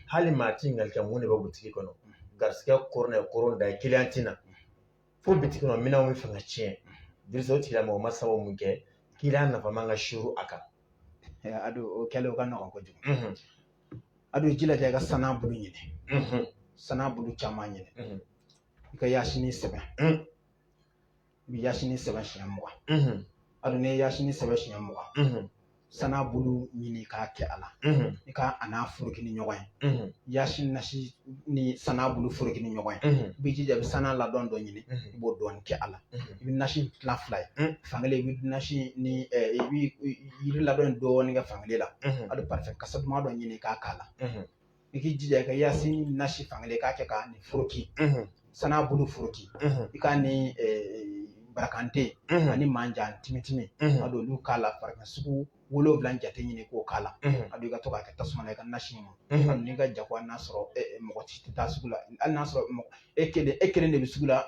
hali maa t'i ɲininka ko mun de bɛ butigi kɔnɔ garisigɛ kɔrɔ ye kɔrɔ da ye kiliyan tɛ na fo bitigi kɔnɔ minɛnw bɛ fɛ ka tiɲɛ dirisa o tigilamɔgɔ ma sababu mun kɛ kiliyan nafama ka suuru a kan a don o kɛlen o ka nɔgɔn kojugu a don i jilaja i ka sana bulu ɲini sana bulu caman ɲini i ka yasini sɛbɛn i bɛ yasini sɛbɛn siɲɛ mugan a dun n'i ye yasini sɛbɛn siɲɛ mugan sana bulu ɲini k'a kɛ a la i ka a n'a foroki ni ɲɔgɔn ye yasini nasi ni sana bulu foroki ni ɲɔgɔn ye i b'i jija i bɛ sana ladɔn dɔ ɲini i b'o dɔɔni kɛ a la i bɛ nasi tila fila ye fankelen i bɛ nasi ni i bɛ yiri ladɔn dɔɔni kɛ fankelen la a dun parifɛn kasa duman dɔ ɲini k'a k'a la. i k'i jija i ka yasin nasi fankelen i k'a kɛ ka ni foroki sana bulu foroki i k'a ni barakante ani manjan timitimi a don olu k'a la fara a kan sugu wolonwula jate ɲini k'o k'a la a don i ka to k'a kɛ tasuma na i ka nasi in mun n'i ka jago hali n'a sɔrɔ mɔgɔ si tɛ taa sugu la hali n'a sɔrɔ e kelen e kelen de bɛ sugu la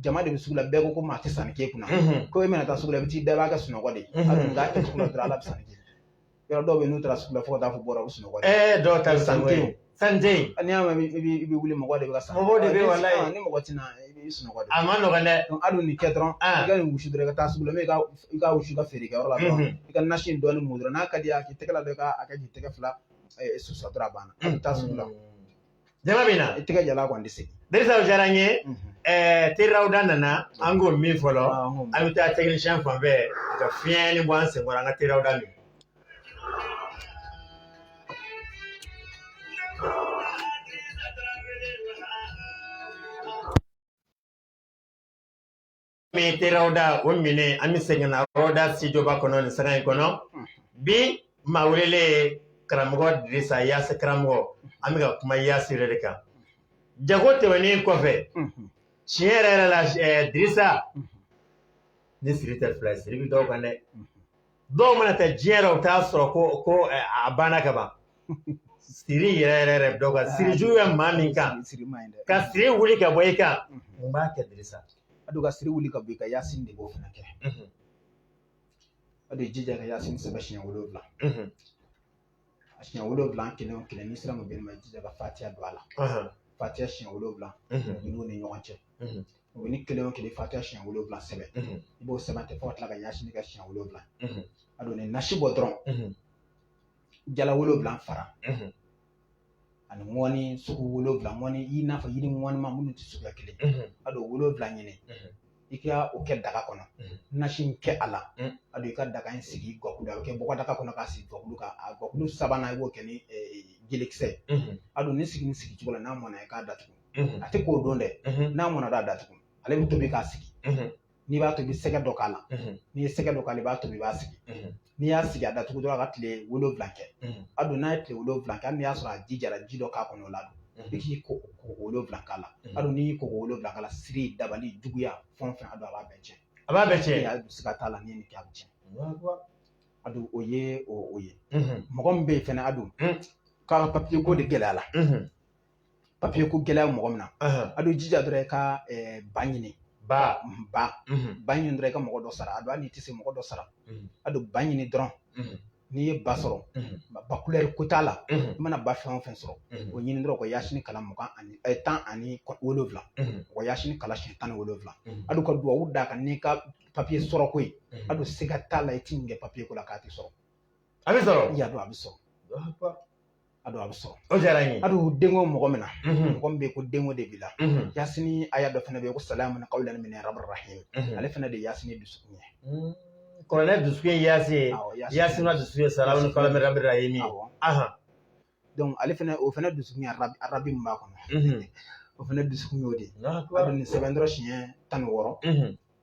jama de bɛ sugu la bɛɛ ko ko maa tɛ sanni k'e kunna ko e mana taa sugu la i bɛ t'i da i b'a kɛ sunɔgɔ de ye a dun k'a kɛ sugu la dɔrɔn ala bɛ sanni kɛ jula dɔw bɛ yen n'u taara sugu la fo ka taa fɔ bɔra u sunɔgɔ ɛɛ dɔw ta san tɛ yen san tɛ yen n'i y'a mɛn i bɛ wuli mɔgɔ de bɛ ka san mɔgɔ de bɛ walayi ni mɔgɔ tɛna i bɛ sunɔgɔ de a man nɔgɔn dɛ a dun nin kɛ dɔrɔn i ka nin wusu dɔrɔn i ka taa sugu la i ka i ka wusu ka feere kɛ yɔrɔ la dɔrɔn i ka nasi in dɔɔni mun dɔrɔn n'a ka d'i ye a k'i tɛgɛ la dɔrɔn i ka a kɛ k'i tɛgɛ fila susa dɔrɔn a banna i bɛ taa sugu la jama bɛ na i tɛgɛ jalan kɔni tɛ segin Dirisa o diyara n ye ɛɛ te rawuda nana an k'o min fɔlɔ an bɛ taa tɛkinisiyɛn fan fɛ ka fiɲɛni bɔ an senkɔrɔ an ka te rawuda min min te rawuda o minɛ an bɛ segin na rawuda sitidiyoba kɔnɔ nin sanga in kɔnɔ bi maa welelen karamɔgɔ dirisa yasin karamɔgɔ an bɛ ka kuma yasin yɛrɛ de kan jago tɛmɛnen kɔfɛ tiɲɛ yɛrɛ yɛrɛ la dirisa ni siri tɛ fila siri bɛ dɔw kan dɛ dɔw mana taa diɲɛ na u t'a sɔrɔ ko ko eh, a banna ka ban siri yɛrɛ yɛrɛ yɛrɛ dɔw ka siri jugu bɛ maa min kan siri ma ɲi dɛ ka siri wuli ka bɔ i kan mun b'a kɛ dirisa a don ka siri wuli ka bɔ i kan yasin de b'o fana kɛ a don jija ka yasin sɛbɛn siɲɛ wolonwula a siɲɛ wolonwula kelen o kelen n'i sera mubini ma jija ka fatiya don a la fatiya siɲɛ wolonwula don ninnu ni ɲɔgɔn cɛ mubini kelen o kelen fatiya siɲɛ wolonwula sɛbɛn i b'o sɛbɛn ten fo ka tila ka yasin kɛ siɲɛ wolonwula a don nin nasi bɔ dɔrɔn jala wolonwula fara ani ŋɔni sugu wolonwula ŋɔni i n'a fɔ yiri ŋɔnima minnu tɛ suguya kelen a don wolonwula ɲini i ka o kɛ daga kɔnɔ nasi in kɛ a la a don i ka daga in sigi gakulu la a bɛ kɛ bɔgɔ daga kɔnɔ k'a sigi gakulu kan a gakulu sabanan i b'o kɛ ni jelekisɛ ye a don nin sigi nin sigi cogo la n'a mɔna i k'a datugu a tɛ ko o don dɛ n'a mɔna a datugu ale bɛ tobi k'a sigi n'i b'a tobi sɛgɛ dɔ k'a la n'i ye sɛgɛ dɔ k'a la i b'a tobi i b'a sigi n'i y'a sigi a datugu dɔrɔn a ka tile wolonwula kɛ a don n'a ye tile wolonwula kɛ hali n'i y'a sɔrɔ a ji jara ji dɔ k'a kɔnɔ o la i k'i ko ko wolonwula k'a la a don n'i y'i ko ko wolonwula k'a la siri dabali juguya fɛn o fɛn a don a b'a bɛɛ cɛn a b'a bɛɛ cɛn a don siga t'a la n'i ye nin kɛ a bɛ cɛn a don o ye o ye mɔgɔ min bɛ yen fɛnɛ a don k'a ka papiyeko de gɛlɛya la papiye ko gɛlɛya mɔgɔ min na a don jija dɔrɔn i ka ba ɲini ba ba ba ɲini dɔrɔn i ka mɔgɔ dɔ sara a don n'i tɛ se mɔgɔ dɔ sara a don ba ɲini dɔrɔn n'i ye ba sɔrɔ ba kulɛri ko t'a la i mana ba fɛn o fɛn sɔrɔ o ɲini dɔrɔn ka yasini kalan mugan ani tan ani wolonwula ka yasini kalan siɲɛ tan ni wolonwula a don ka dubabu d'a kan n'i ka papiye sɔrɔ ko ye a don siga t'a la i tɛ nin kɛ papiye ko la k'a tɛ sɔrɔ a bɛ sɔrɔ y'a dɔn a bɛ sɔrɔ a don a bɛ sɔrɔ o diyara n ye a don denko mɔgɔ min na mɔgɔ min bɛ ko denko de b'i la yasini aya dɔ fana bɛ yen ko salamuni kawlani mini rabi rahimi ale fana de ye yasini dusukun ye kuranɛ dusukun ye yasin ye yasini dusu ye salamuni kawlani mini rabi rahimi don ale fana o fana dusukun ye arabi min b'a kɔnɔ o fana dusukun y'o de ye a don nin sɛbɛn dɔrɔn siɲɛ tan ni wɔɔrɔ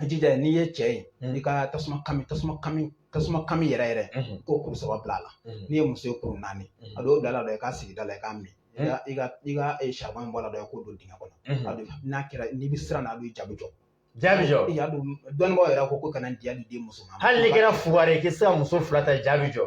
i jija n'i ye cɛ ye mm. i ka tasuma kami tasuma kami tasuma kami yɛrɛ yɛrɛ mm-hmm. k'o kuru saba bila a la mm-hmm. n'i ye muso ye kuru naani mm-hmm. a don bila a la dɔrɔn i k'a sigi da la i k'a min i ka i ka eh, saribɔn in bɔ a la dɔrɔn i k'o don dingɛ kɔnɔ a don n'a kɛra n'i bɛ siran na a don jaabi jɔ jaabi jɔ i y'a dɔn dɔnnibaaw yɛrɛ ko ko kana diya di den muso ma hali n'i kɛra fugari ye k'i tɛ se ka muso fila ta jaabi jɔ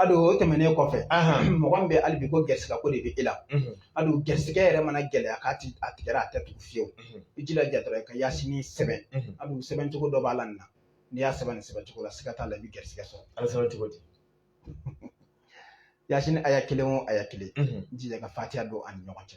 A don o tɛmɛnen kɔfɛ mɔgɔ bɛ hali bi ko garisigɛ ko de bɛ e la a don garisigɛ yɛrɛ mana gɛlɛya k'a tigɛra a tɛ tugu fiyewu i jija dɔrɔn i ka yasini sɛbɛn a sɛbɛncogo dɔ b'a la nin n'i y'a sɛbɛn nin sɛbɛncogo la siga t'a la i bɛ garisigɛ sɔrɔ a sɛbɛn cogo di yasini aya kelen o aya kelen jija ka fatiya don a ni ɲɔgɔn cɛ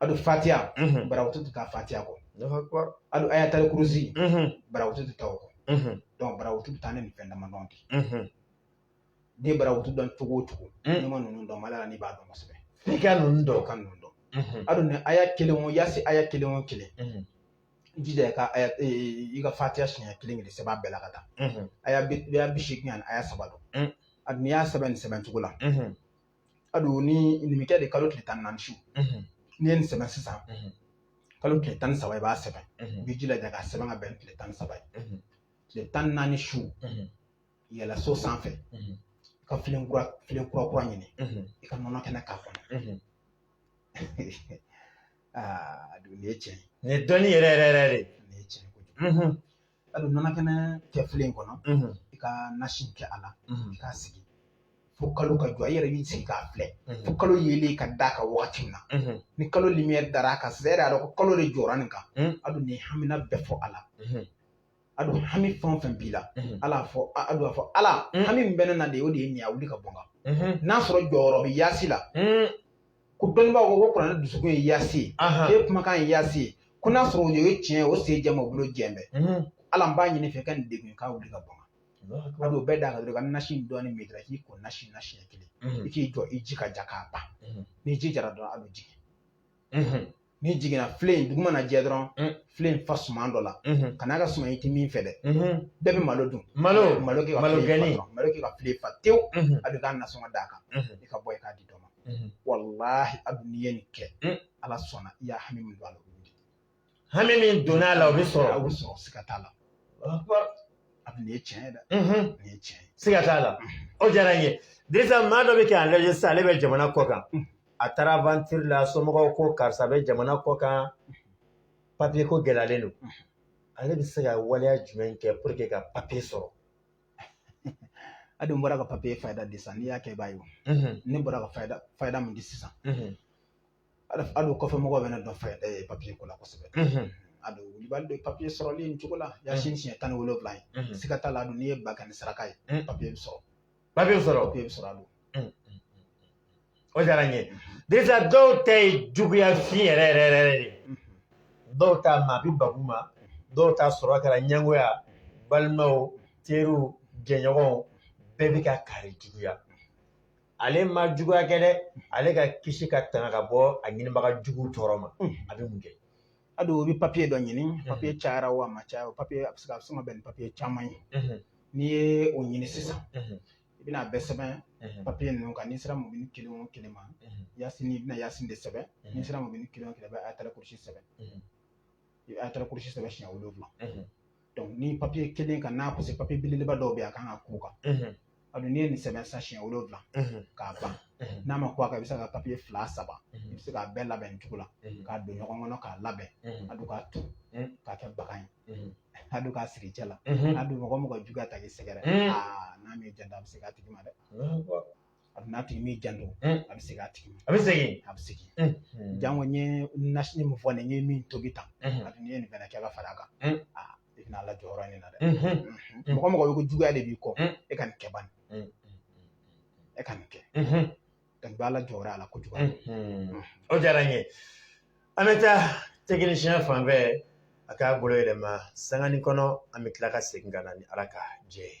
adu fatiya mhm. barawutu tɛ taa fatiya kɔ adu ayatali kurusi mhm. barawutu tɛ taa o kɔ mhm. donc barawutu bɛ taa ni nin fɛn damadɔ de n'i ye barawutu dɔn cogo o cogo n'i ma ninnu dɔn mali la n'i b'a dɔn kosɛbɛ f'i ka ninnu dɔn ka ninnu dɔn adu ni aya kelen o yasi aya kelen o kelen jija i ka aya e, i ka fatiya siɲɛ kelen kelen sɛbɛn bɛɛ la ka taa aya bi seegin ani aya saba don adu n'i y'a sɛbɛn nin sɛbɛn cogo la adu ni nin bɛ kɛ de kalo tile tan ni naani su n'i ye nin sɛbɛn sisan kalo tile tan ni saba i b'a sɛbɛn i b'i jilaja k'a sɛbɛn ka bɛn tile tan ni saba ye tile tan ni naani su yɛlɛ so sanfɛ i ka filen kura filen kura kura ɲini i ka nɔnɔ kɛnɛ k'a kɔnɔ adu nin ye tiɲɛ ye nin ye dɔnni yɛrɛ yɛrɛ yɛrɛ de nin ye tiɲɛ ye kojugu adu nɔnɔ kɛnɛ kɛ filen kɔnɔ i ka nasi kɛ a la i k'a sigi fo kalo ka jɔ i yɛrɛ b'i sigi k'a filɛ fo kalo yeelen ka da a kan wagati min na ni kalo lumière dara a kan sisan e yɛrɛ y'a dɔn ko kalo de jɔra nin kan adu ni hamina bɛɛ fɔ a la adu hami fɛn o fɛn b'i la ala fɔ adu a fɔ ala hami min bɛ ne na de o de ye nin ye a wuli ka bɔ n kan n'a sɔrɔ jɔyɔrɔ bɛ yaasi la ko dɔnnibaaw ko ko kuranɛ dusukun ye yaasi ye Ahan. e kumakan ye yaasi ye ko n'a sɔrɔ o ye tiɲɛ ye o sen jɛma o bolo jɛn bɛ Mhm. ala n b'a ɲini i fɛ ka nin degun in k'a wuli ka bɔ n kan Allahu akbar. adu o bɛɛ da a kan dɔrɔn ka nasi in dɔɔni min dɔrɔn k'i ko nasi na siɲɛ kelen Mhm. i k'i jɔ i ji ka ja ka ban Mhm. ni ji jara dɔrɔn a bɛ jigin Mhm. n'i jiginna filen dugu mana jɛ dɔrɔn filen fa suman dɔ la kana kɛ suman i tɛ min fɛ dɛ bɛɛ bɛ malo dun malo malo kɛ malo gɛni malo kɛ ka filen fa tewu a bɛ k'a nasɔngɔ d'a kan i ka bɔ i k'a di dɔ ma walahi adu n'i ye nin kɛ ala sɔnna i ye hami min don a la o bɛ di hami min donna a la o bɛ sɔrɔ a bɛ sɔrɔ siga t'a la a bɛ nin ye tiɲɛ ye dɛ nin ye tiɲɛ ye siga t'a la o diyara n ye dirisa maa dɔ bɛ ka an lajɛ sisan ale bɛ jamana kɔkan a taara aventure la somɔgɔw ko karisa bɛ jamana kɔkan papier ko gɛlɛyalen don ale bɛ se ka waleya jumɛn kɛ pour que ka papier sɔrɔ adu n bɔra ka papier fayida di sisan n'i y'a kɛ i b'a ye ne bɔra ka fayida fayida min di sisan adu o kɔfɛ mɔgɔw bɛ ne dɔn fayida eh, papier ko la kosɛbɛ adu wulibali don papiye sɔrɔli nin cogo la yasi siɲɛ tan ni wolonwula ye siga t'a la adu n'i ye ba kɛ nin saraka ye papiye bɛ sɔrɔ papiye bɛ sɔrɔ o bɛ sɔrɔ adu o diyara n ye dirisa dɔw ta ye juguya fin yɛrɛ yɛrɛ yɛrɛ de ye dɔw ta maa bɛ babu ma dɔw ta sɔrɔ kɛra ɲɛngoya balimaw teriw jɛɲɔgɔnw bɛɛ bɛ ka kari juguya ale ma juguya kɛ dɛ ale ka kisi ka tanga ka bɔ a ɲinibaga jugu tɔɔrɔ ma a bɛ mun kɛ adu o bɛ papiye dɔ ɲini papiye cayara o a ma caya o papiye a bɛ se ka a bɛ se ka bɛn ni papiye caman ye n'i ye o ɲini sisan i bɛna a bɛɛ sɛbɛn papiye ninnu kan n'i sera mubini kelen o kelen ma yasin i bɛna yasin de sɛbɛn n'i sera mubini kelen o kelen bɛ ayatali kurusi sɛbɛn i bɛ ayatali kurusi sɛbɛn siɲɛ wolonwula nin papiye kelen kan n'a pase papiye belebeleba dɔw bɛ yen a kan ka kun a kan a dun n'i ye nin sɛbɛn sa siɲɛ wolonwula k'a ban n'a ma kun a kan i bɛ se ka papiye fila saba i bɛ se k'a bɛɛ labɛn nin cogo la k'a don ɲɔgɔn kɔnɔ k'a labɛn a don k'a turu k'a kɛ bagan ye a don k'a siri i cɛ la a don mɔgɔ mɔgɔ juguya ta k'i sɛgɛrɛ aa n'a m'i janto a bɛ segin a tigi ma dɛ a dun n'a tigi m'i janto a bɛ segin a tigi ma a bɛ segin a bɛ segin janko n ye nasini min fɔ nin n ye min tobi tan a dun n'i ye nin fana kɛ ka fara a kan aa i bɛna ala jɔyɔrɔ nin na dɛ mɔgɔ mɔgɔ bɛ ko juguya de b'i kɔ e ka nin kɛ bani e ka nin kɛ ka don ala jɔyɔrɔ a la kojugu o diyara n ye an bɛ taa tɛkinisiyɛn fan fɛ a k'a bolo yɛlɛma sangani kɔnɔ an bɛ tila ka segin ka na ni ala ka jɛ ye